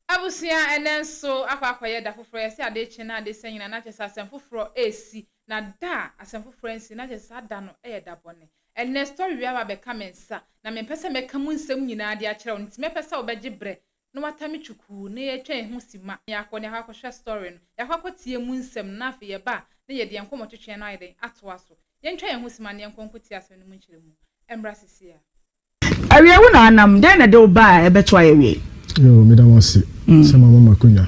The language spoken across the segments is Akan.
Abusua a ɛnnɛ nso akɔ akɔyɛ da foforɔ, yɛse ade kye na ade sɛ nyina na kyɛsɛ asɛm foforɔ resi, na da a asɛm foforɔ ansi na kyɛsɛ saa da no yɛ da bɔne. Ɛnnɛ story wei aba abɛka me nsa, na mempɛ sɛ mɛka mu nsɛm nyinaa de akyerɛ wo, nti mɛpɛ sɛ wobɛgye berɛ na woata me kyukuu na yɛatwa yɛn ho simma na yɛakɔ na yɛakɔ akɔhwɛ story no, yɛakɔ akɔtie mu nsɛm no na afei yɛba a na yɛde yɛn nkɔmmɔtwetweɛ no ayɛ dɛn? atoa so. Yɛntwa yɛn ho simma na yɛnkɔ nkɔtie asɛm no mu nkyerɛmu. Ɛmmra seesei ara. Awiei wo na anam, dɛn na ɛde wo baa a ɛbɛto ayɛ awiei? Yoo meda mo ase sɛ mo ama mo akonya.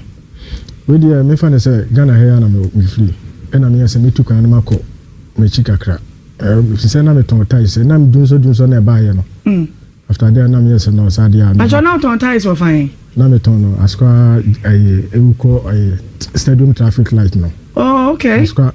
Wei deɛ me fa no sɛ Ghana ha yi ara na me me firi ɛna me yɛ sɛ me tu kwan no ma kɔ me akyi kakra ɛɛ ɛfiri sɛ na me tɔn ties ɛna me dunsɔ dunsɔ na ɛbaa yɛ no after there na me yɛ sɛ no saa deɛ a me Pakyɛ na wotɔn ties wɔ fan he? Na me tɔn no askwa ɛyɛ ɛwu kɔ ɛyɛ stadium traffic light no oh okay askwa.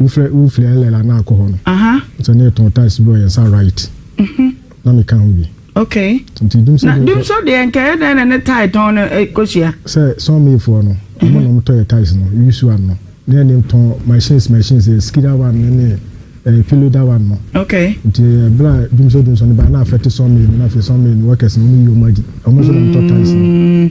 Wofrɛ wofiri LL anaa akɔ hɔ no. Aha. Sɛ ne tɔn tiles bi wɔ yɛn nsa right. Mhm. Na me ka ho bi. Okay. Nti dumso. Na dumso deɛ nka yɛ dɛn na ne tie tɔn no ekohyia. Sɛ sɔn mi foɔ no. Ɔmo na ɔmo tɔ yɛ tiles no use one no. Ne yɛ ne tɔn machines machines yɛ skida one ne ne ɛɛ pillow da one no. Okay. Nti ɛɛ bra dumso dumso no ba na afɛte sɔn mi no na afɛ sɔn mi no workers no ɔmo yi ɔmo adi. Ɔmo nso na ɔmo tɔ tiles no.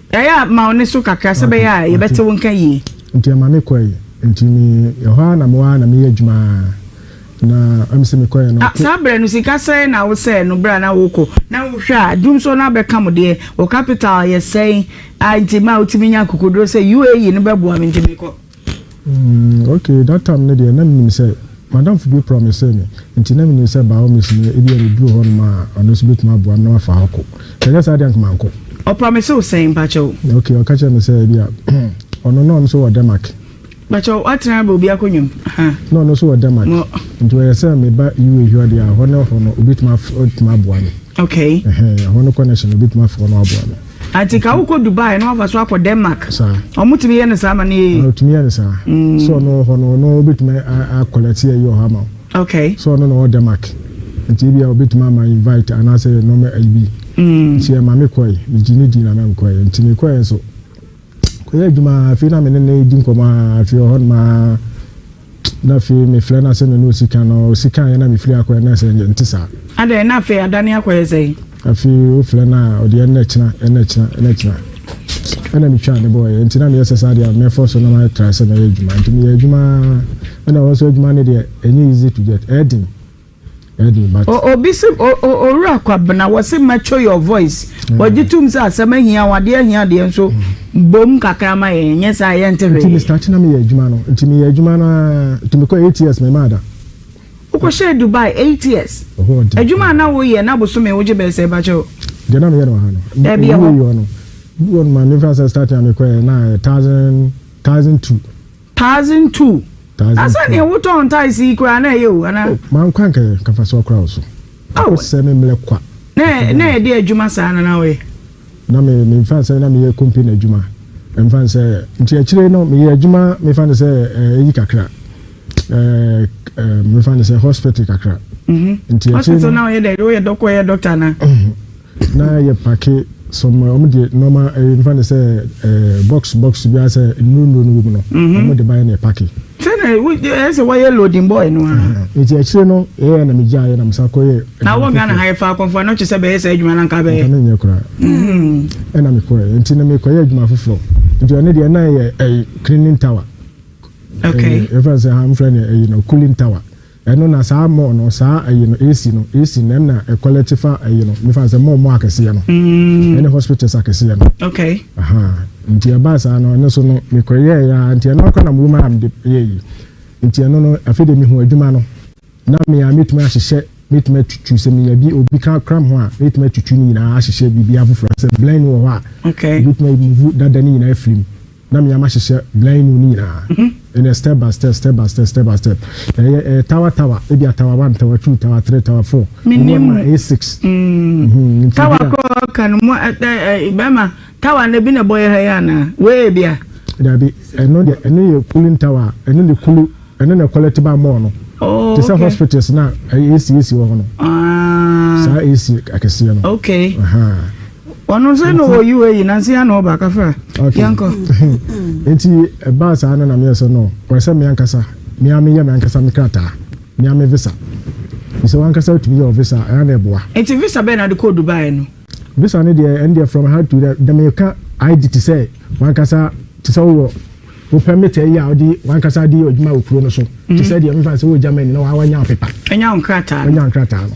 Yaya, ma wo nne so kakra sɛ ɛbɛyɛ a yɛbɛte wo nka yie. Nti ɛma me kɔe. Nti me yɛ hɔ ara na me hɔ ara na me yɛ adwuma ara. Na ɛm sɛ me kɔeɛ no. Ah, saa berɛ no sika sɛn na wo sɛɛ no berɛ a na wo rekɔ? Na wo hwɛ a, dum nso na abɛka mo deɛ. Wo capital yɛ sɛn? Ah, nti ma wo tumi nya akokoduro sɛ UAE no bɛboa me nti me kɔ. Mm okay, that time no deɛ na menim sɛ madamfo bi promisee me nti na menim sɛ biomes no ebia meduru hɔ nom a ɔno nso bɛtumi aboa me na wafa hɔ kɔ. Sɛ ɛnyɛ saa deɛ anka mankɔ. Ɔpromise wo sɛn mpakyɛw? Okay, ɔka kyerɛɛ me sɛ ebia ɔno na ɔno nso wɔ Denmark. Mpakyɛw woatena bɛ obi akonnwa mu ha? Na ɔno nso wɔ Denmark Mo. nti ɔyɛ sɛ meba UA hɔ deɛ a hɔ ne hɔ no obɛtumi af obɛtumi aboa me. Okay. Ɛhɛn, ɛhɔ no connection no obɛtumi afa hɔ na waboa me. Ati ka wokɔ Dubai na wafa so akɔ Denmark. Ɔmo tumi yɛ no saa ma no yɛ yie. Ɔtumi yɛ no saa. Mm. So ɔno wɔ hɔ no ɔno obetumi akɔlɛte yɛ yɛ ɔhɔ ama. Okay. So ɔno na ɔwɔ Denmark. Nti ebi a obetumi ama invite anaasɛ yɛ nɔɔma ayi bi. Mm. Nti ɛma me kɔe. Megye ne di na mɛm kɔe. Nti me kɔe nso. Kɔyɛ adwuma ara, afei na me ne no di nkɔmmɔ ara, afei ɔhɔ nom ara na afei mefrɛ no asɛ me ne ɔsi kan, ɔsi kan yɛ na mefiri akɔyɛ na sɛ nte saa. Adɛn, na afei adane akɔyɛ sɛn? Afei wofrɛ no a, ɔde ɛnna kyena, ɛnna kyena, ɛnna kyena. Ɛna metwaa ne bɔɔyɛ, nti na meyɛ sɛ saa deɛ mɛfɔ so na mayɛ tra sɛ mɛyɛ adwuma, nti meyɛ adwuma ara, ɛna ɔhɔ nso adwuma no deɛ ɛnyɛ easy to get, ɛyɛ den. Obi se, Owura Kwabena, wɔse mature your voice. Wɔgye tom sɛ asɛm ahia wo, adeɛ ahia deɛ nso bom kakra ma yɛn, nyɛ saa yɛnte hwee. Nti Mr. China meyɛ adwuma no, nti meyɛ adwuma no ara, nti mekɔ eight years memaa da. Wokɔhyɛɛ Dubai eight years? Adwuma a na woyɛ na bosome wogye bɛyɛ sɛn pakyɛ o? Deɛ na meyɛ no wɔ ha no, ɛwieɛ hɔ no, ɛwieɛ hɔ no, maame mfa sɛ starting a mekɔɛ na thousand, thousand two. Thousand two. Thousand two. Asa nea wotɔn ntaes yi koraa na ɛyɛ o anaa. Oh, maa nkwa nkɛyɛ kafa so akora wo so. Oh. Akɔsɛ me mmerɛ kwa. Na na yɛde adwuma saa na na ɔyɛ. Na me me nfa sɛ na meyɛ company adwuma. Mfa sɛ nti akyire no meyɛ adwuma mefa no sɛ ɛyi eh, kakra. Ɛɛ eh, eh, mefa no sɛ hospital kakra. Mhm. Nti akyire no. Hospital na ɔyɛ dɛ, ɔyɛ dɔkɔ, ɔyɛ doctor na. Mhm. Na yɛ pake some a wɔn deɛ nɔɔma ɛyɛ nfa ne sɛ ɛɛ box box bi a sɛ nnuro nnuro no wɔ mu no mhm. wɔn de ban na yɛ pake. sɛnɛ ɛyɛ sɛ wɔyɛ loading boy no ara. Mhm. nti akyire no ɛyɛ na mi gya ayɛ na mi sa kɔ yɛ. na wɔn ghana ha yɛ fa akɔnfɔ na ɔkyɛ sɛ bɛyɛ sɛ adwuma na nka bɛyɛ. nka mi nyɛ kora. Mhm. ɛna mi kɔ yɛ nti na mi kɔ yɛ adwuma foforɔ nti ɔne deɛ ɛna yɛ ɛyɛ cleaning tower. okay ɛfɛ sɛ ha nfɛ ne ɛyɛ no cooling tower. Ɛno na saa mall no saa ayi no esi no esi nɛm na ɛkɔlɛkye fa ayi no mefa no sɛ mall mall akɛseɛ no ɛne hospitals akɛseɛ no ahaa nti ɛbaa saa no ɛno so no mekɔ yɛɛ yɛ aa nti ɛno akora na mewom aa mede yɛ yi nti ɛno no afei de mehu adwuma no na me aa metumi ahyehyɛ metumi atutu sɛ meya bi obi ka kram ho a metumi atutu ne nyinaa ahyehyɛ biribi afoforɔ sɛ blend wɔ hɔ a metumi ayi muvu dada ne nyinaa afirim na mea mahyehyɛ beaɛ no ne nyinaa ɛnɛ step by step step by step step by step ɛyɛ ɛyɛ tower tower ebia tower one tower two tower three tower four ebi wɔ ma ɛyɛ six mhm tower korɔ ka no mu ɛ ɛ bɛma tower no ebi na ɛbɔ yɛ ha yɛ anaa wei bia dabi ɛno deɛ ɛno yɛ cooling tower ɛno de kulu ɛno na quality ba mɔɔ no oh, te sɛ okay. hospitals na ɛyɛ esi esi wɔ hɔ no ah. saa esi akɛseɛ no okay. Uh -huh. ɔno nso na ɔwɔ UAE nanso yɛn na ɔba kafra yɛnkɔ nti ɛbaa saa no na meyɛ sɛ no wɔyɛ sɛ me ankasa me a meyɛ me ankasa me krataa me a me visa sɛ wankasa wotumi yɛ visa ɛyɛ na ɛboa nti visa bɛn na de kɔɔ Dubai no visa no deɛ ɛno deɛ from how to dɛ dɛ meka ID te sɛ wankasa te sɛ wowɔ wo permit ɛyɛ a wode wankasa de yɛ adwuma wɔ kuro no so te sɛ deɛ mefa sɛ wɔ Germany na wawanya wo pepa ɛnya wo nkrataa ɛnya nkrataa no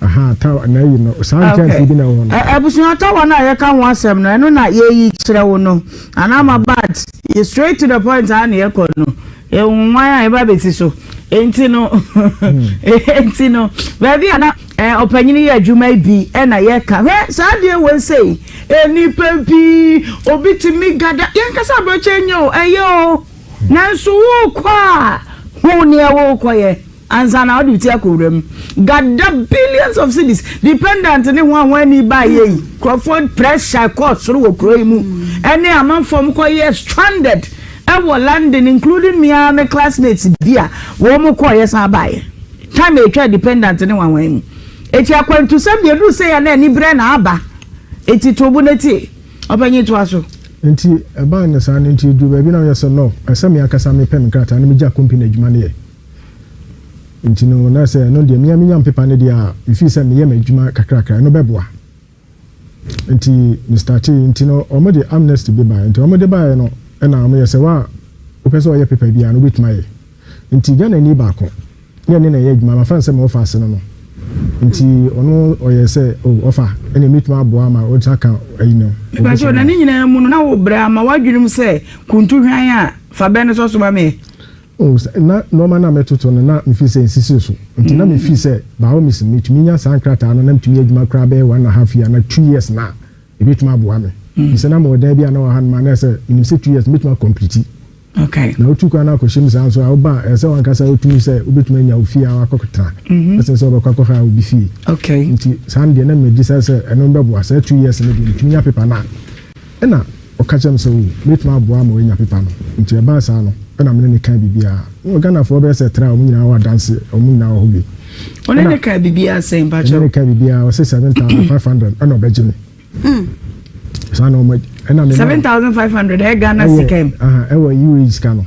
Aha, tawa na ayi no, saa nkyɛnsee bi na ɛwɔ hɔ no. Abusua tawa no a yɛka ho asɛm no, ɛno na yɛyi kyerɛ wo no. Anaa ma but yɛ straight to the point a na yɛkɔ no. Ɛwonwan a yɛba bɛsi so. Enti no, enti no, baabi a na ɔpanyini yɛ adwuma bi na yɛka. Hwɛ saa deɛ wei sei, nnipa pii, obi tumi gada. Yɛnkasa aberɛkyɛ nyɛ o, ɛyɛ o. Nanso wokɔ a, hu nea wokɔyɛ. Ansa na ɔde wo ti akɔ wura mu. Gada billions of cedis. Dependent ne ho a wɔn ani ba yɛ yi. Nkurɔfoɔ pressure kɔɔ soro wɔ kuro yi mu. Ɛne amanfoɔ mo kɔ yɛ stranded ɛwɔ London including me ara me classmates bi a wɔn mo kɔɔ yɛ san baa yɛ. Time a yɛtwaa dependent ne ho a wɔn yi mu. Eti akwantusɛm deɛ ɛduru sei a na ani brɛ na aba. Eti to bo na tie. Ɔpanyin toa so. Nti ɛbaa no saa no nti ɛduru baabi na woyɛ sɛ no ɛsɛ me ankasa me pɛ me nkrataa na me gya company adwuma no yɛ. Nti no, na sɛ ɛno deɛ mea menya mpepa no deɛ a, mefii sɛ meyɛ m'adwuma kakrakra, ɛno bɛboa. Nti me startee, nti no wɔn de amnesty bi baeɛ, nti wɔn de baeɛ no ɛna wɔn yɛ sɛ wa wopɛ sɛ ɔyɛ pepa biara no wobɛtumi ayɛ. Nti Ghanani baako ne ɛne na ɛyɛ adwuma, mafa no sɛ me ɔfa ase no no, nti ɔno ɔyɛ sɛ o oh, ɔfa ɛna mɛtumi aboa ama ɔtumi aka ayi no. Ɛbɛkyɛ na ne nyinaa mu no na wo brɛ ama w'adwenem sɛ kuntu hwan a fa bɛn no sɔ so ma meɛ. O, sɛ na nnoɔma no a metoto no na mefiri sɛ nsisiri so nti na mefiri sɛ by all means metumi nya saa nkrataa no na metumi yɛ adwuma koraa bɛyɛ one and a half year anaa two years no a, ɛbɛtumi aboa me. Ɛfiri sɛ na mewɔ dan bi a na wɔ ha nom a na ɛyɛ sɛ menim sɛ two years no mɛtumi akɔmpliti. Na wotu kwan no akɔhyɛ mu saa nso a, woba a, ɛyɛ sɛ w'ankasa wotumi sɛ wobɛtumi anya wo fie a woakɔtra ɛsen sɛ wobɛkɔ akɔhaya obi fie. Nti saa no deɛ na megye sɛ sɛ ɛno bɛboa. Saa two years no deɛ metumi nya paper no a, Ɛnna ɔka kyerɛɛ me sɛ, Oh, mɛtumi aboa ama woanya pepa no. Enti ɛbaa saa no, ɛnna me ne no kaa biribiara. Wowɔ Ghanafoɔ bɛyɛ sɛ tra a, wɔn nyinaa wɔ adanse, wɔn nyinaa wɔ hɔ bi. Wo ne no kaa biribiara sɛn, mpakyɛw? Me ne no kaa biribiara, ɔse seven thousand five hundred ɛnna ɔbɛgye me. Hmm. Saa na wɔn, ɛnna me. Seven thousand five hundred ɛyɛ Ghana sika mu? Ɛyɛ, aha, ɛwɔ UAE sika no.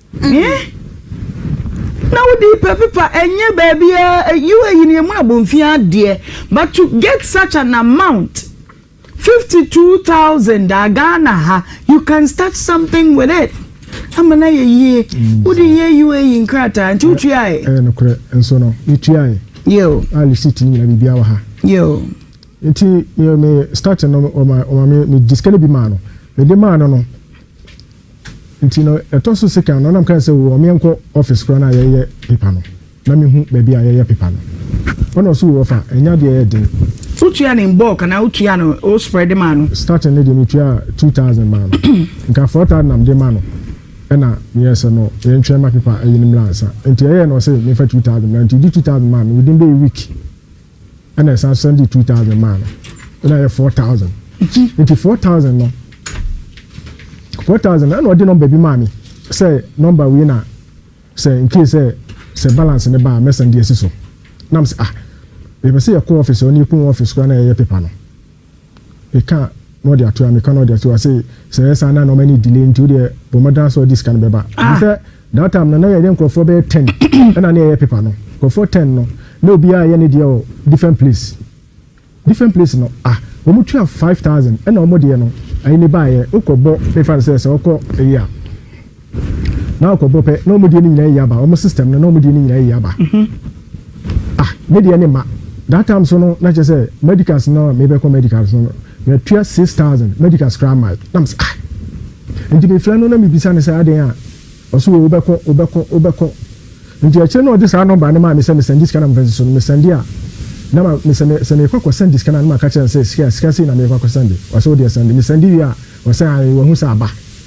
Eeh na wo di pɛ pepa ɛnyɛ baabiaa UAE no yɛmu abonfi ara deɛ but to get such an amount 52000 a Ghana ha you can start something with it ama no ayɛ yie wo de yɛ UAE nkrataa nti wo tuaɛ. Ɛyɛ nokorɛ nso no me tuaɛ Yoo. a receipt no nyina biribiaa wɔ ha. Yoo. Nti me me starting no wɔma wɔma me me gye sika no bi maa no mede maa no no Nti no ɛtɔ so sekan no na me kae sɛ oo ɔmeɛ nkɔ office koraa no a yɛyɛ paper no na me hu baabi a yɛyɛ paper no. Ɔna ɔse oo ɔfa ɛnyɛ adeɛ ɛyɛ den. Wo tua no in bulk anaa wo tua no wo spread maa no? Starting no deɛ me tuaa two thousand maa no. Nka four thousand na mede ma no ɛna me yɛɛ sɛ no yɛn ntwɛn ma paper ɛyi no mmra ansa. Nti ɛyɛɛ na ɔse me nfa two thousand mmra nti ɔde two thousand maa me within bɛyɛ week. ɛna ɛsan sɛn de two thousand maa no ɛna yɛ four thousand nti four thousand no four thousand ɛna ɔde nɔmba bi maa mi sɛ nɔmba wei na sɛ nke sɛ sɛ balance ne ba a mɛsan de asi so nam sɛ ah yɛpɛ sɛ yɛkɔ ɔfis ɔne yɛkɔ ɔfis koraa na yɛyɛ pepa no Meka a na ɔde ato a meka na ɔde ato a sei sɛ ɛyɛ saa na na ɔma ne delay nti wodeɛ bɔ mmɔden sɛ ɔde sika no bɛba ɛfiri sɛ that time no na yɛyɛ nkurɔfoɔ bɛyɛ ten ɛna ne yɛyɛ pepa no nkurɔfoɔ ten no na obiara yɛ ne deɛ wɔ different place different place no ah wɔn tua five thousand ɛna wɔn deɛ no ayi ne baayɛ wokɔ bɔ mefa no sɛ sɛ ɔkɔ ɛyi a na akɔbɔ pɛ na ɔmo deɛ no nyinaa yi aba ɔmo system no na ɔmo deɛ no nyinaa yi aba mhm. ah me deɛ ne ma that time so no na kyerɛ sɛ medicals no a mebɛkɔ medicals no matua six thousand medicals koraa mae na m sɛ ah nti mefrɛ no na mebisa no sɛ adɛn a ɔso wɔ wobɛkɔ wobɛkɔ wobɛkɔ nti akyire na ɔde saa nɔmba no maa me sɛ mesɛnde sika na mfa si so no mesɛnde a na ma mesɛ me sɛ mekɔ akɔsɛnde sika no na maka kyerɛ no sɛ sika sika sei na mekɔ akɔsɛnde ɔsɛ wodeɛ sɛnde mesɛnde wie a ɔsɛ ae wahu sɛ aba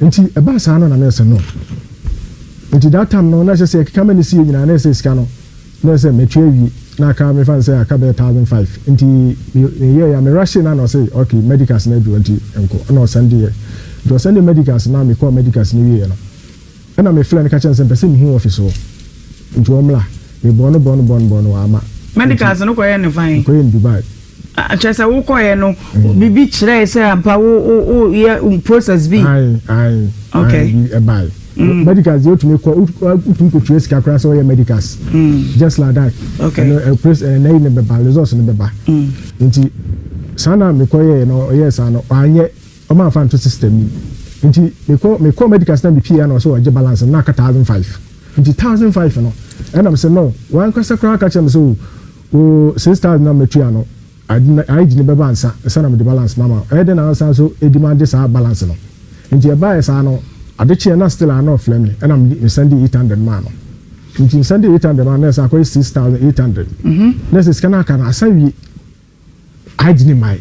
Nti ɛbaa saa no na na ɛsɛ no nti that time no na ɛsɛ sɛ ɛkeka mɛ ne sie nyinaa na ɛsɛ sika no na ɛsɛ sɛ mɛtua awie na aka me fa no sɛ aka bɛyɛ thousand five nti me meyɛ ya me rushe na na ɔse ok medicals no aduro nti nko na ɔsɛndeɛ nti ɔsɛndeɛ medicals na mekɔɔ medicals no wieɛ no Ɛna me frɛ no ka kyerɛ no sɛ mpɛ sɛ mehu wɔ ɔfese hɔ nti wɔ mmra me bɔɔ no bɔɔ no bɔɔ no bɔɔ no wɔ ama. Medicals no kɔ yɛ no fan. Mekɔ yɛ no Dubai. Ah kyerɛ sɛ wo kɔ yɛ no bibi kyerɛɛ sɛ ampa wo wo wo yɛ process bi. Ae ae ae bi ɛbae medicals deɛ otumi kɔ otumi kɔ tua sika koraa sɛ ɔyɛ medicals just like that ɛno ɛpres ɛnɛ yi ne bɛba results no bɛba nti saa na mekɔ yɛ no ɔyɛ saa no wanyɛ. Ɔma afa nto system yi nti mekɔ mekɔɔ medical sɛ na me pii a na ɔsɛ ɔgye balance no na aka thousand five nti thousand five no ɛna me sɛ no wankasa koraa ka kyerɛ me sɛ oh wo six thousand na matua no aid no bɛba ansa ansa na mede balance no ama ɛyɛ dɛ na ansa nso ɛdi ma gye saa balance no nti ɛbaeɛ saa no ade kyeɛ na still a na ɔfrɛ me ɛna me send eight hundred maa no nti me send eight hundred maa no na ɛsɛ akɔyɛ six thousand eight hundred na ɛsɛ sika no aka no asa wie Agyini mae.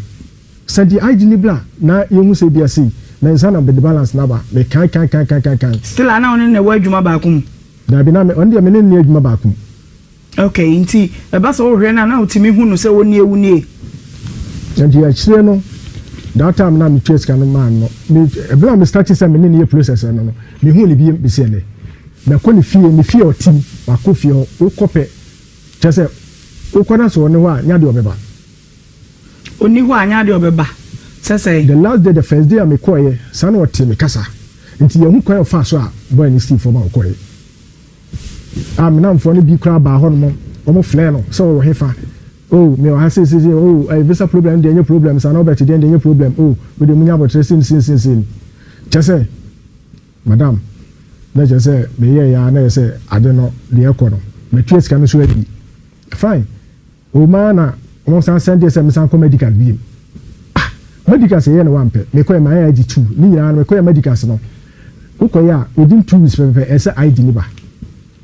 Sɛnti agyini bi a na yɛhu sɛ ebia sei, me nsa na mede balance no aba, me kan kan kan kan kan kan. Still a na wo ne no na ɛwɔ adwuma baako mu? Daabi, na me, ɔno deɛ me ne no nni adwuma baako mu. Okay, nti ɛba sɛ wohwɛ no a na wotumi hu no sɛ wo nie, wo nie? Nti akyire no, that time no a me tua sika no maa no, me, ɛberɛ a me start sɛ me ne no yɛ process no no, me huu no biem besi ɛnnɛ. Makɔ ne fie, ne fie a ɔte mu, makɔ fie hɔ, wokɔ pɛ, Kyerɛ sɛ, wokɔ na sɛ ɔne hɔ a, nyɛ adeɛ ɔbɛba. Ɔnni hɔ a, nyɛ adeɛ ɔbɛba. Sɛ sɛ. The last day, the first day a mekɔeɛ, saa na ɔtee me kasa. Nti yɛahu kwan a ɔfaa so a boy no sii fam a ɔkɔeɛ. A me nnamfoɔ no bi koraa baa hɔnom, wɔfrɛɛ no sɛ ɔwɔ hefa. Oh, mewɔ ha sei sei sei, oh, ɛɛ, visa problem no deɛ ɛnyɛ problem saa, na Albert deɛ no deɛ ɛnyɛ problem, oh, wo deɛ monya aboterɛ sei ne sei ne sei ne sei. Kyerɛ sɛ. Madam, na kyerɛ sɛ meyɛeɛ ara na ɛyɛ sɛ ade no deɛ ɛrekɔ no, matua sika no nso awie. Fine. O maa na wɔsan sɛndeɛ sɛ mesan kɔ Medicas bio. Ah! Medicas yɛyɛ no wo ampɛ. Mekɔɛ maa yɛ ID two. Ne nyinaa no mekɔyɛ Medicas no, wokɔyɛ a within two weeks pɛpɛpɛ ɛsɛ ID no ba.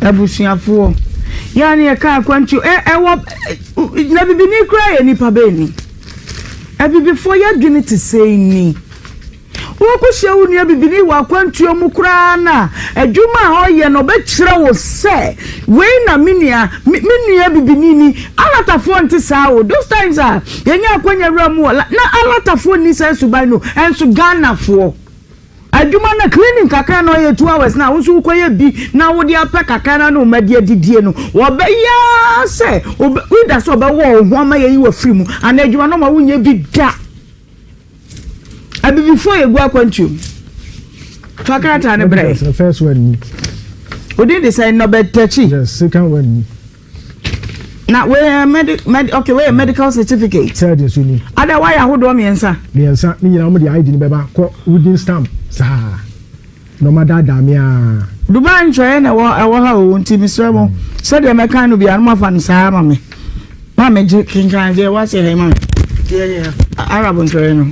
Abusuafoɔ. Yɛ a ne yɛka akwantuo ɛ, ɛwɔ ɛ, na bibini koraa yɛ nipa bɛɛ ni. Abibifoɔ yɛ adwene te sei ni. Woko hyia wo nua bibini wɔ akwantuo mu koraa no a, adwuma a ɔyɛ no ɔbɛkyerɛ wo sɛ wei na me nua, me, me nua bibini ni. Alatafoɔ nte saa o. Those times a yɛnya akwanya wura mu wɔ la, na alatafoɔ nni saa suban no, ɛnso Ghanafoɔ. Adwuma no cleaning kakra na ɔyɛ two hours na wo nso wokɔyɛ bi na wode apɛ kakra na ne wo ma de adidie no wɔbɛyɛ ara sɛ ɔbɛ either sɛ ɔbɛwɔ wo ho ama yɛyi wafiri mu anaa adwuma no ma wonyɛ bi da abibifoɔ yɛgu akwantuo mu fa krataa no brɛ That's the first one ni. odin de sɛn nɔbɛtakyi Yes, second one ni. na wei yɛ mɛdi mɛdi ok wei yɛ medical certificate. sɛɛdi nso ni. ada wayɛ ahodoɔ mmiɛnsa. mmiɛnsa ne nyinaa wɔn de id ni bɛba kɔ wooden stamp saa na wɔn adaadaa mi aa. dubai ntwɛɛ na ɛwɔ ɛwɔ ha o nti mesrɛ mo sɛdeɛ mɛkan no biara no mafa no saa ma me ma me gye kenkan deɛ wɔasɛ ha yi ma me deɛ yɛ arab ntwɛɛ no.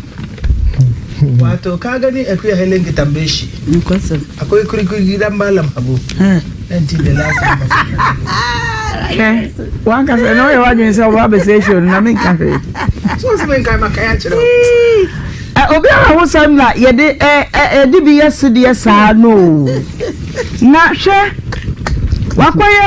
wato ka gani akuya helen kitambeshi. Nokwasɛm. Akɔyi kurikuri da mba lam abo. Ɛnti the last number. Hwɛ, wankasa na ɔyɛ wadwene sɛ ɔba abɛsɛ show no na menka hwee. So ɔsɛ menkae ma kae akyerɛ wo. Obiara ho sɛm na yɛde ɛde bi yɛ sedeɛ saa no na hwɛ wakɔyɛ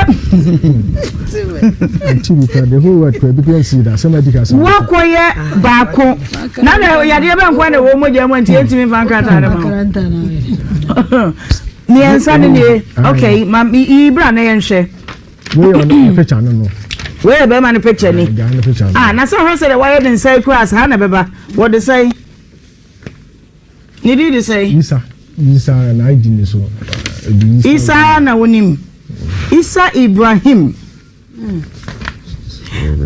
wakɔyɛ baako Na na yadeɛ bɛ nkoa na ɛwɔ mogya mu nti yɛntumi mfa nkrataa no ma wo mmiɛnsa no nie ok ma yi bra na yɛnhwɛ wei yɛ bɛrima no picture ni ah na sɛ ɔhwɛ sɛ dɛ wayɛ ne nsa kura ase ha na bɛba wɔde sɛn ne di de sɛn isa isa na ayi di ne so isa na wonim isa ibrahim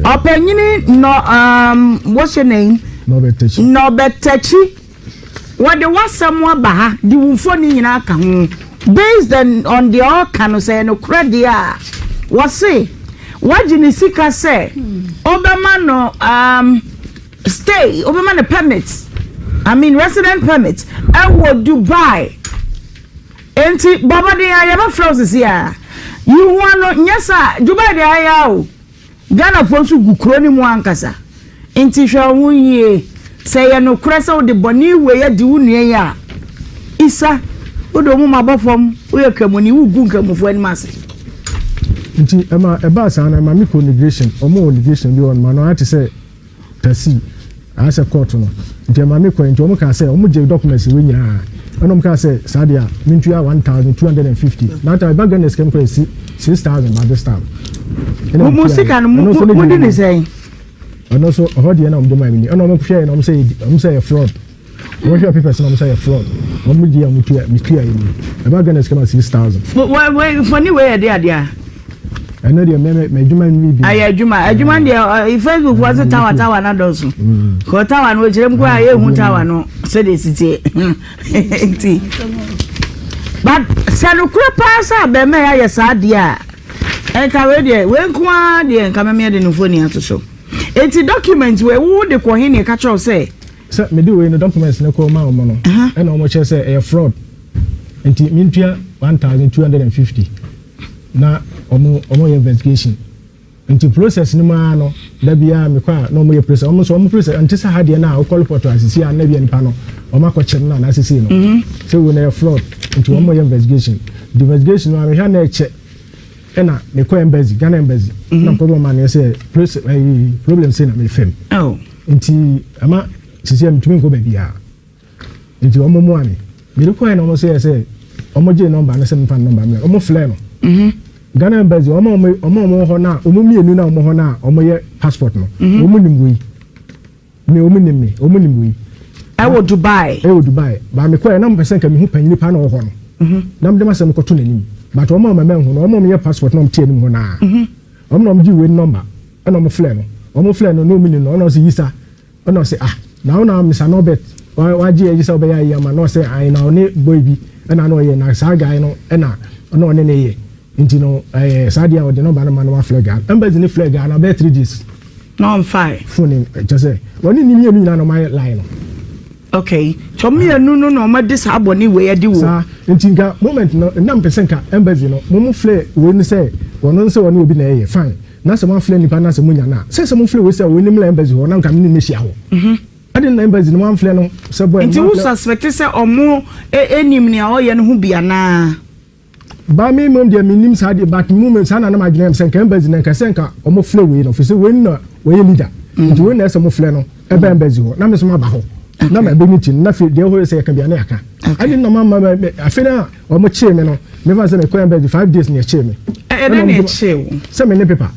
Ɔpanyin nɔ um, what's your name? Nɔbɛtakyi. Nɔbɛtakyi. Wɔde w'asɛm aba ha de wo mfoni nyinaa ka ho. Based on deɛ ɔka no sɛ nokorɛ deɛ a wɔse wagye ne sika sɛ wobɛma no um, stay, wobɛma no permit, I mean resident permit ɛwɔ Dubai. Enti bɔ mmɔden ara yɛbɛfrɛ wo sese ara yi hua no nyɛ saa dwuma de ayɛ ara o Ghanafoɔ nso gu kuro no mu ankasa nti hwɛ wo ho yie sɛ ɛyɛ nokorɛ sɛ wode bɔne wei adi wo nua yi a Isa wode wo moma bɔ fam woyɛ kramoni wogu nkramofoɔ anim ase. Nti ɛma ɛbaa saa no ɛma me kɔ negration ɔmo wɔ negration bi wɔ nom ano ayɛ te sɛ. Tasi, anaasɛ kɔɔto no. Nti ɛmaa me kɔe. Nti wɔn kaa sɛ wɔn gyee documents wei nyinaa. Ɛna wɔn kaa sɛ saa deɛ a mentua one thousand two hundred and fifty. Na ata ɛba Ghana sika mu kɔ ɛsi six thousand by this time. Mo mo sika no mo mo di ne sɛn? Ɛno nso ɛhɔ deɛ na wɔn de maa mi ni. Ɛna wɔn hwɛɛ na wɔn sɛ wɔn sɛ yɛ fraud. Wɔn hwɛ pepɛ sɛ wɔn sɛ yɛ fraud. Wɔn mo gye a wɔn tua me tua yɛ mu. Ɛba Ghana sika ma six thousand. Wɔ wɔ mfoni wɔ yɛ de adeɛ a. Ɛnɛ deɛ mɛ mɛ adwuma nwi bi. Ayɛ adwuma adwuma mm. deɛ ɔ eh, Facebook fo ase tawa tawa na dɔɔso. Mm. Kɔ tawa no ekyirem kura ayɛ ehu tawa no sɛdeɛ sitie nti. But sɛ no kura paa sɛ abɛɛmɛ yɛ ayɛ saa adeɛ a ɛnka wei deɛ wei nko ara deɛ nka mɛmɛ de no mfoni ato so. Eti document wei wo de kɔ he ne ɛka kyerɛw sɛ. Sɛ mede wei no documents no kɔ ma wɔn no ɛna wɔn kyerɛ sɛ ɛyɛ fraud nti mi ntua one thousand two hundred and fifty na wɔn wɔn yɛ investigation nti process no mu ara no dabi a mekɔ a na wɔn yɛ process wɔn nso wɔn process nti sɛ ha deɛ na wɔkɔ report asisi a na bi nipa no wɔn akɔ kyɛm na n'asisi no mhm. sɛ wei na ɛyɛ fraud nti wɔn yɛ investigation the investigation no a mehwɛ na ɛkyɛ ɛna mekɔ embassy ghana embassy mhm. na mekɔ bɔ ma ne sɛ problem sɛ na mefam. Oh. Nti ɛma sisi a metumi nkɔ baabiara. Nti wɔn mmoa me. Mede kɔɛ na wɔn sɛ sɛ wɔn gye nɔmba no sɛ mefa nɔmba mmerɛ. Wɔn flɛ no. Mhm. Ghana embassy wɔn a wɔn wɔn hɔ na wɔn mmienu na wɔn hɔ na wɔn yɛ passport no. Mhm. Wɔn nim wei. Me wɔn nim me. Wɔn nim wei. Ɛwɔ Dubai. Ɛwɔ Dubai. Ba me kɔɛ na mo pɛ sɛ nka me ho panyin nipa na ɔhɔ no. Mhm. Na mo de ma sɛ mo kɔto n'anim. But wɔn a wɔn mɛmɛ ho no wɔn a wɔn yɛ passport na wɔn te anim hɔ naa. Mhm. Wɔn na wɔn gye wei nɔmba. Ɛna ɔmo frɛ no, ɔmo frɛ no na ɔmo nim no, ɛna ɔse Yisa, ɛna ɔse ah, na wo na Mister Norbert wagye ayi sɛ ɔbɛyɛ ayi ama no, na ɔse ae, na ɔne boy bi ɛna na ɔyɛ, na saa guy no ɛna na ɔne no yɛ, nti no ɛɛ saa deɛ a ɔde number no ma no wafrɛ guy no, embassy no frɛ guy no abɛyɛ three days, na ɔnfae, phone no kyerɛ sɛ ɔne ne mmienu nyinaa na ɔmo ayɛ line no. Okay nti ɔmo mienu no na ɔmo de saa bɔne wei adi wɔ. Saa nti nka moment no nna mpɛ sɛ nka embassy no mo mo flɛ wei no sɛ wɔno nsɛ wɔne obi na ɛyɛ fine na sɛ mo aflɛ nipa no asɛ mo nya no a sɛ sɛ mo flɛ wei sɛ wei no mmra embassy hɔ na nka mene no mɛhyia hɔ ɛde na embassy no mo amflɛ no sɛ boy no mo aflɛ. Nti wo suspect sɛ ɔmo ɛnim nea ɔyɛ no ho bi anaa. Ba me mmom deɛ mennim saa deɛ but mu me saa na na madwene yam sɛ nka embassy na nka sɛ nka ɔmo flɛ wei no fisɛ wei na wɔyɛ leader nti wei na ɛsɛ mo flɛ no ɛba embassy hɔ na me so maba hɔ na ma ɛbɛ meeting na afei deɛ hɔ sɛ yɛka bia ne aka ɛne na ma ma afei na ɔmo kyee me no mefa sɛ mekɔ embassy five days na ɛkyee me ɛna ne sɛ me ne paper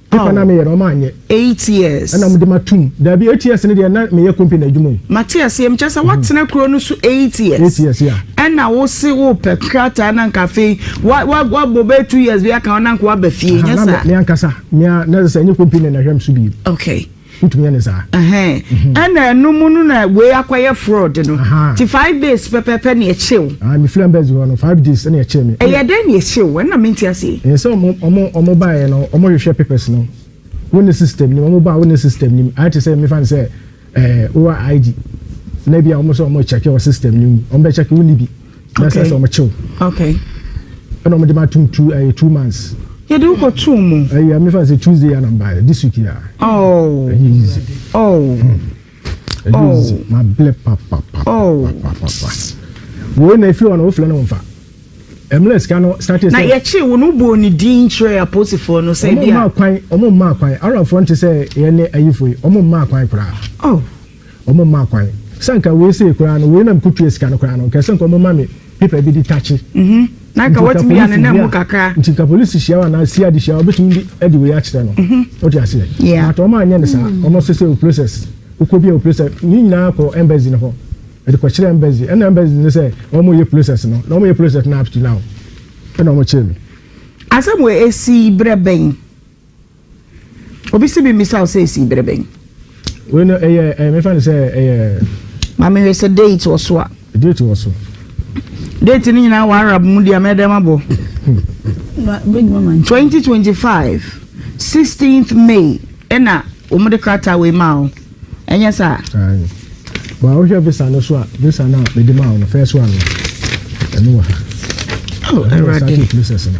Paper na meyɛ no ɔmo anyɛ. Eight years. Ɛna ɔmo de ma tum. Dabi eight years no deɛ na meyɛ company adwuma o. Mate aseɛ mekyerɛ sɛ watena kuro no so eight years. Eight years yeah. Ɛna wo se wo pɛ krataa na nka afei wa wa wabɔ bɛyɛ two years bi aka hɔ na nka waba fie nyɛ saa. Aha na me me ankasa me a na sɛ ɛnyɛ company na ɛhwɛ me so bio. Okay. Wotumi yɛ no saa. Ɛhɛn, ɛna ɛno mu no na wei akɔyɛ fraud no. Ahaa. Nti five days pɛpɛɛpɛ na ɛkyee wo. Ae, mefiri Embassy hɔ no, five days ɛna ɛkyee me. Ɛyɛɛ dɛn na ɛkyee wo? Ɛnna mente aseɛ. Ɛyɛ sɛ ɔmo, ɔmo, ɔmo baeɛ no, ɔmo hwehwɛ papers no wo ne system nim, ɔmo baa wo ne system nim. Ayɛ te sɛ mefa no sɛ ɛɛ, wowɔ ID na ebia ɔmo sɛ ɔmo rekyɛke wɔ system no mu, ɔmo bɛkyɛke, wonni bi. na sɛ sɛ wɔn kyew ɛna wɔn de ma tum two ɛyɛ two months. yɛde wokɔ two mu. ɛyɛ ame fa sɛ tuesday yɛ anam baayɛ this week yɛ a. oh ɛyɛ easy. oh hmm. ɛyɛ oh. easy ma blɛ papapapa. oh papapapa. wei na efiri hɔ na wofilɛ na wɔn fa ɛmuna sika no starting sɛ. na yɛkye wo no bɔ ne din kyerɛ aposifoɔ no sɛ bi a. ɔmo mmaa kwan ɔmo mmaa kwan arafoɔ nti sɛ yɛn ne ayifo yi ɔmo mmaa kwan koraa. oh. Ɔmo mmaa kwan. Sɛ anka wei sei koraa no, wei na me ko tua sika no koraa no, nka ɛsɛ nka ɔmo ma me paper bi de takye. Mhm. Na anka watumi ya ne nan mu kakra. Nti nka polisi hyia wo anaa CID hyia wo a, ɔbɛtumi de adi wei akyerɛ no. Mhm. Wote aseɛ? Yeah. But ɔmo anyɛ no saa. Ɔmo se sɛ wo process. Wokɔ bi a wo process. Ne nyinaa kɔ embassy no hɔ. Ɛde kɔ kyerɛ embassy. Ɛna embassy no sɛ ɔmo yɛ process no. Na ɔmo yɛ process no up to now. Ɛna ɔmo kyere me. Asɛm wei ɛsii berɛ bɛn? Obi se memmisa wo sɛ ɛsii berɛ bɛn? Wei no ɛyɛ ɛyɛ mefa no sɛ ɛyɛ. Ma mehwɛ sɛ date wɔ so a. Date wɔ so. Date no nyinaa wɔ Arab mu deɛ mɛdɛ ma bɔ. 2025 16th May ɛna wɔn de krataa wei maa wo. Ɛnyɛ saa? Ayi. Bɔn ahohwɛ visa no so a visa no a mede maa wo no first one no ɛno wɔ ha. Oh, ɛwurade. Ɛno wɔ sati process no.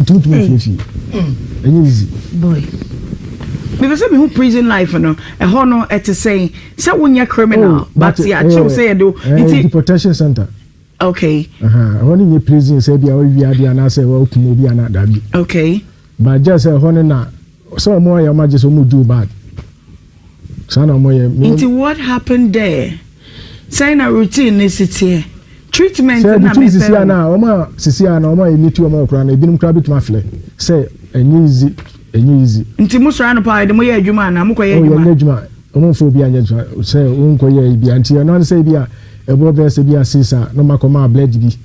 Nti wotumi afie fie. Ɛnyɛ easy. Boy. Mepɛ sɛ mehu prison life no. Ɛhɔ no ɛte sɛn? Sɛ wonyɛ criminal oh, but yɛakyew eh, sɛ yɛde wo. Eh, nti deportation center. Okay. Ɛhɔ no nyɛ prison sɛ bia wɔawi ade anaasɛ wɔakum obi ana dabi. Okay. But just ɛhɔ no na Sɛ ɔmo ayɛ ɔmo agye sɛ ɔmo Jew bad saa na ɔmo yɛ. Nti what happened there? Sɛn na routine ne si teɛ? Treatment na mepɛ o. Sɛ ɛbutumi sisi a na ɔmo a sisi a na ɔmo a yɛ meet ɔmo hɔ koraa no ebinom koraa betumi aflɛ sɛ ɛnyɛ easy ɛnyɛ easy. Nti mo sɔre anɔpa a ɛde mo yɛ adwuma anaa mo kɔ yɛ adwuma? Oh yɛ nyɛ adwuma ɔmo nfa obi anyɛ adwuma sɛ wo nkɔ yɛ ebi a nti ɛno ara ne sɛ ebi a ɛboɔ bɛyɛ sɛ ebi a six a na ɔmo akɔ ma bled bi.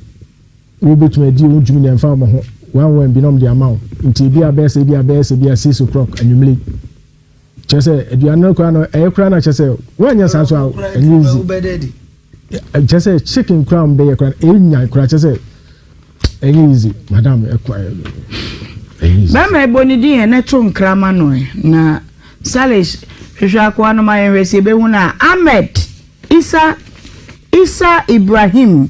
Wobetumi adi wo dwumadi a ɛmfa wɔn ho wɔn wɔn binom de ama wo, enti ebia bɛyɛ sɛ ebia bɛyɛ sɛ ebia six o'clock anwummere yi. Kyerɛ sɛ aduan no koraa no ɛyɛ koraa na kyerɛ sɛ wɔanyɛ saa nso a ɛnyɛ easy. Kyerɛ sɛ chicken koraa a wɔbɛyɛ koraa no ɛnya koraa kyerɛ sɛ ɛnyɛ easy madam ɛkɔ ɛyɛ easy. Bɛrima ɛbɔ ne din yɛn ɛto nkra ma no na Salish hwehwɛ akoa no ma yɛn hwɛ sɛ ebehu no a Ahmed Isa Isa Ibrahim.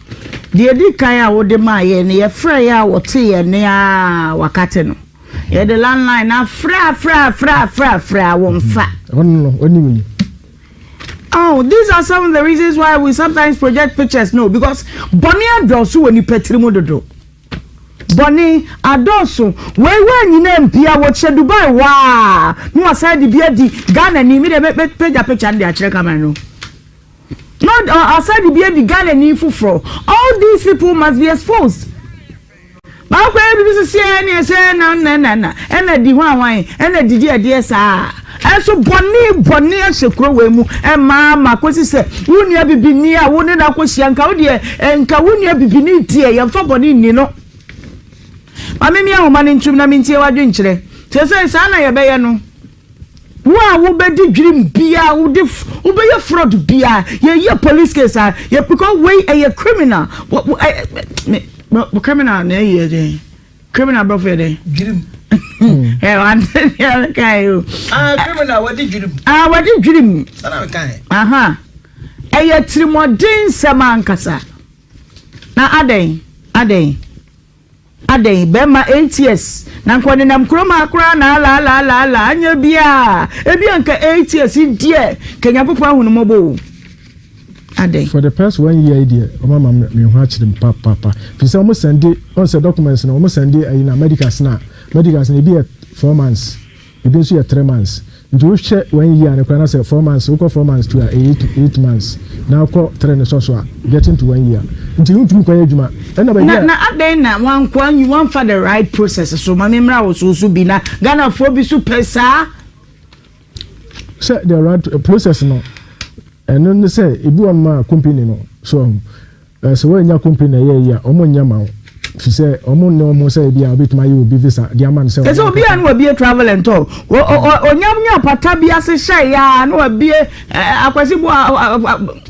Deɛ ɛdi kan a wode maa yɛn no, yɛfrɛɛ yɛ a wɔtee yɛn nne ara a wɔakate no. Yɛde landline no afrɛ a frɛ a frɛ a frɛ a frɛ a wɔmfa. Oh, these are some of the reasons why we sometimes project pictures no because bɔne adɔɔso wɔ nipa tiri mu dodo. Bɔne adɔɔso wei wɔ nyinaa mpia wɔkyɛ Dubai waa na wasan de bi adi Ghana ni mi de mɛpagya picture no de akyerɛ camera no. No ɔ ɔsan de bi adi Ghanani foforɔ All these people must be exposed Baako a ɛyɛ bi so sɛ ɛne ɛsɛ na na na na ɛna di ho awan ɛna didi ɛdeɛ saa Ɛnso bɔne bɔne ahyɛ kuro wei mu ɛma ma kɔsi sɛ wo nua bibini a wo ne no akɔhyia nka wo deɛ nka wo nua bibini deɛ yɛmfa bɔne nni no Ma me me ahoma no ntom na mentie w'adwenkyerɛ Sɛ sɛ saa na yɛbɛyɛ no Wo a wobɛdi dwirim biaa wode wobɛyɛ fraud biaa yɛyɛ police case a yɛ because wei ɛyɛ criminal wɔ wɔ ɛ me me criminal na ɛyɛ dɛn criminal brɔfo yɛ dɛn dwirim ɛ wante deɛ meka yi o ah criminal wɔde dwirim ah wɔde dwirim sana meka yi aha ɛyɛ tirimɔden nsɛm ankasa na adɛn adɛn Adɛn, bɛrima eight years na nka ɔnenam kurom ha koraa na alaalaalaala anyɛ biaa, ebia nka eight years yi deɛ nka Nyankopɔn ahu no mmɔbɔ o, adɛn. For the past one year yi deɛ wɔn ama me ho akyere me papaapa firi sɛ wɔn sɛnde, wɔn sɛ documents no wɔn sɛnde ayi na medicals no a, medicals no ebi yɛ four months. Ebi nso yɛ three months. Nti wohwɛ one year no koraa na sɛ four months, wokɔ four months to a ɛyɛ eight eight months. Na wokɔ three no sɔ so a, getting to one year. Nti wontumi nkɔyɛ adwuma. Ɛna baabi a. Na adɛn na wanko anyi wamfa the right process so? Ma me mmra wo so nso bi na Ghanafoɔ bi nso pɛ saa. Sɛ the right process no, ɛno ne sɛ ebi wɔ nom a company no so ɔho. Na sɛ woannya company na ɛyɛ eyi a, wɔnyɛ ma wo, efisɛ wɔnne wɔn ho sɛ ebia wobetumi ayɛ obi visa de ama no sɛ Te sɛ obi a na wabue Travel and Tour, onya nya apata bi ase hyɛe a na wabue eh, Akwasi Boa,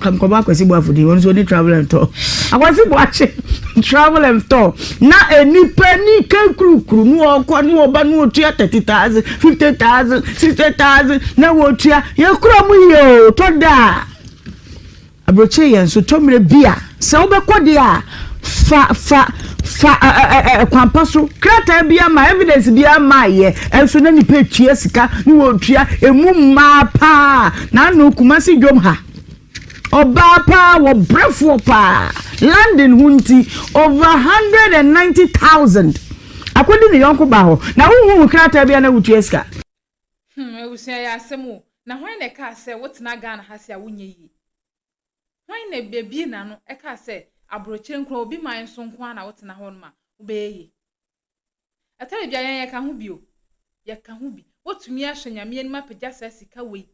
nkɔmmɔ Akwasi Boa Afodi, ɔno nso ɔni Travel and Tour, Akwasi Boakye Travel and Tour, na nnipa ni kankurukuru na wɔkɔ na wɔba na wɔtua thirty thousand, fifty thousand, sixty thousand na wɔtua, yɛkura mu yie o, tɔ da a. Aburokyire yɛ nsotɔmmerɛ bi a sɛ wobɛkɔ deɛ a, fa fa fa ɛ ɛ ɛ ɛkwan pa so. Krataa biara mmaa, evidence biara mmaeɛ, nso na nnipa retua sika ne wɔretua, ɛmu mmaa paa na ano Kumasi dwom ha. Ɔbaa paa, wɔbrɛfoɔ paa, landing ho nti, over 190,000 akɔdi ne yɔnko baa hɔ, na wonhunhu krataa biara na wotua sika. Hmm, abusua ɛyɛ asɛm o. Na hwan na ɛkaa sɛ wotena Ghana ha se a wonyɛ yie? Hwan na abie n'ano ɛkaa sɛ aburokyire nko ara, obi man so nko ara na wotena hɔ nom a wobɛyɛ yie? Ɛtɔ baabi a yɛn yɛka ho bi o. Yɛka ho bi. Wotumi ahyɛ Nyame anim apagya saa sika wei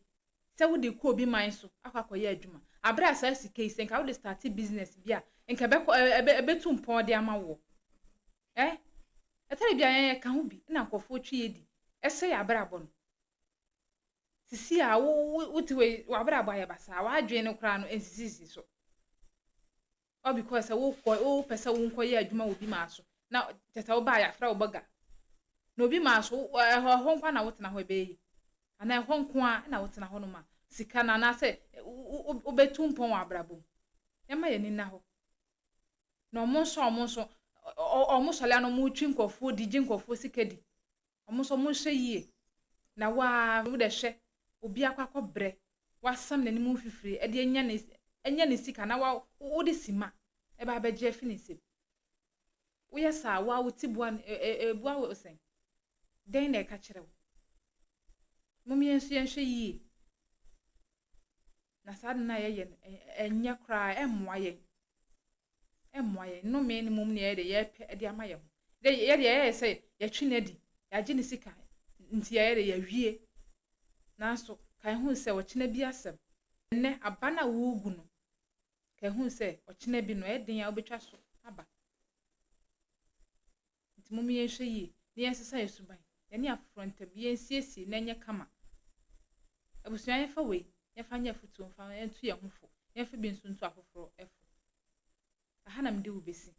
sɛ wode rekɔ obi man so akɔ akɔyɛ adwuma. Aberɛ a saa sika yi sɛ nka wode starte business bi a nka ɛbɛkɔ, ɛbɛtu mpɔn de ama woɔ. Ɛɛ, ɛtɔ da bi a yɛn yɛka ho bi na nkurɔfoɔ twe yɛn di. Ɛsɛ yɛn abrabɔ no. Sisi a wo wo wote wei w'abrabɔ ayɛ basaa w'adwene no koraa no ɛnsisisisi so. All because sɛ wokɔ wopɛ sɛ wonkɔyɛ adwuma wɔ bi maa so na kyɛ sɛ wobaa yɛafrɛ wo bɔga. Na obi maa so wo- ɛhɔ ɛhɔ nko ara na wotena hɔ ɛbɛyɛ yi. Anaa ɛhɔ nko ara na wotena hɔ no ma sika no anaasɛ wo- wo- wo- wobɛtu mpɔn wɔ abrabɔ mu. Yɛmma yɛn ani nna hɔ. na ɔmo nso a ɔmo nso ɔmo sɔre a na ɔmo twi nkorɔfoɔ di gye nkorɔfoɔ sika di ɔmo nso ɔmo nhwɛ yie na waa wo dɛ hwɛ obi akɔ akɔ brɛ wasam n'anim mfifire ɛde anya ne anya ne sika na wa wo de sima ɛba abɛgye afi ne nsam woyɛ saa waa wo ti boa ɛboa wo sɛn dɛn na ɛka kyerɛ wo mo yɛn nso yɛn hwɛ yie. na saa ade no a yɛyɛ no, ɛnyɛ koraa, ɛmmoa yɛn. Ɛmmoa yɛn. Nnome no mmom na yɛyɛ dɛ yɛpɛ de ama yɛn ho. Dɛ yɛ deɛ yɛyɛ sɛ yɛtwe no adi, yɛagye ne sika nti yɛyɛ dɛ yɛawie. Nanso kae hu sɛ ɔkyena bi asɛm. Ɛnnɛ aba no a woregu no, kae hu sɛ ɔkyena bi no, ɛyɛ den a wobɛtwa so aba. Enti momma yɛnhwɛ yie na yɛnsesa yɛn suban, yɛne afoforɔ ntam, yɛnsiesie na ɛnyɛ kama. Abusua, yɛmfa wei yɛmfa nyɛ afotuo mfa nto yɛn ho fo, yɛmfa bi nso nto afoforɔ fo. Aha na mede wo bɛsi.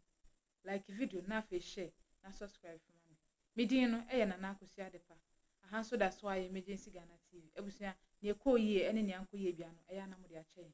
Like video no na afei share na subscribe nso ma me. Me din no yɛ Nana Akosua Adepa. Aha nso da so ara yɛ Emergency Ghana TV. Abusua, nea ɛkɔɔ yie ne nea ankɔ yie biara no, ɛyɛ a na mode akyɛ yɛn.